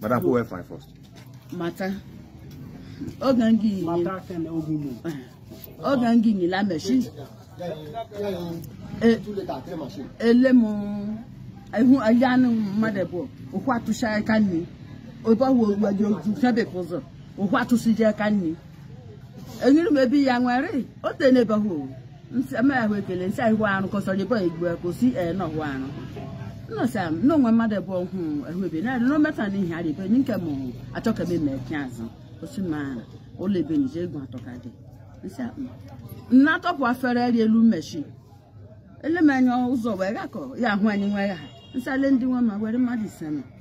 Madam, who went fine first? Mata. Oge ngị yi. Mata ten oge mu. Oge ngị yi la machine. Ele mu ihu aja anụ mmadụ abụọ ohu atụsị aka nri. Obe ọwụ owu aja oju sebe ụzọ. Ohu atụsị je aka nri. Enyere m ebe ya nwere o tenebe ha owu. nsị ama ahụ ekele nsị ahụ arụ ka ọsọ jebe igbo ka osi ee na ọhụ arụ nnọsị ahụ na onwe mmadụ ebe ọhụ ahụ ebe na no meta na ihe arịbe ni nke mụ achọ ka eme mee pịa azụ osi ma ụlọ ebe nje egwu atọ ka dị nsị ahụ nna atọpụ afere eri elu machine elemanya ụzọ wee gakọ ya ahụ anyị nwe ha nsị ale ndị nwe ma were mmadụ ise ma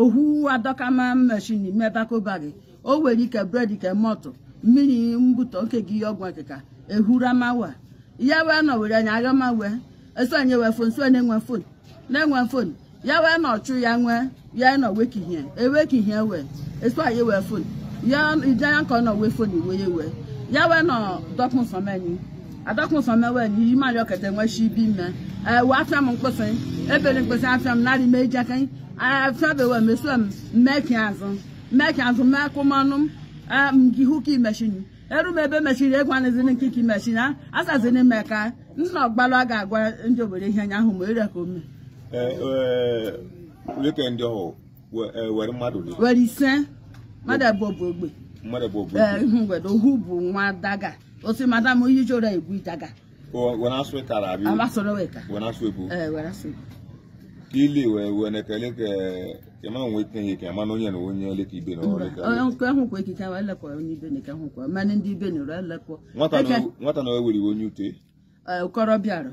ohu adọkama machine mebakụba gị o nwere ike bread ke mọtụ mmiri mbụtọ nke gị ihe ọgwụ akịka ehuramawa ya wee nọ were anya aghọma wee esonye wee fon so na-enwe fon na-enwe fon ya wee nọ chụ ya nwee ya nọ wekihie ewekihie wee eso anyị wee fon ya ije ya ka ọ nọ wee fon iwe ya wee ya wee nọ dọkpụ nsọmenyi adọkụsọ mewel iyi mmadụ ọkata nwechi ibi mme ewe afịa m mkpụsị ebere mkpụsị afịa m narị mee ijaka afịa bewe meso m mmeki azụ mmeki azụ mee akụmanụ m ee, m gị hụ ka machine eru m ebe machine egwu anụzini nke ka machine a- asazini m ka nna ọgbalụ a ga-agwa ndị obodo ihe anya ahụ ma ere ka ome leke ndị ọhụụ we- eh, were mmadụ dị were ise mmadụ abụọ bụ ogbe mmadụ bụ obodo ee, ihu mgbede ohu bụ nwa daga o sị madam onye iji ụra egwu daga Ko- wena asụ ịkara abi amasoro weka wena asụ ebu ee were asụ ili wee wee na-ekele ka kema nwe ike ihe kema na onye na onye ole ka ibe na ole ka onye nke ahụkwa ekike wa elekwa onye ibe na ike ahụkwa mmanụ ndị ibe na ụra elekwa nwata na nwata na o were iwe onye ute ụkọrọ bịara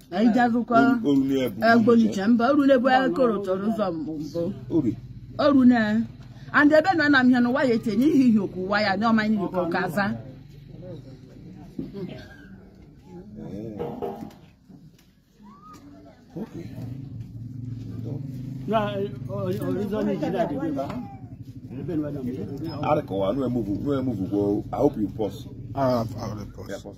anyị jazụkwa agbonicha mba oru na-ebu akụrụ tọrọ ụzọ mbụ oru na and ebe na na m ihe n'ụwa ya etenye ihe ihe okwu ụwa ya n'ọma anyị n'ikwu ka aza Okay. No, originally, she died. Arịka ụwa, nwe move, nwe move, I hope you pause. Ah, I will pause. Yeah, pause.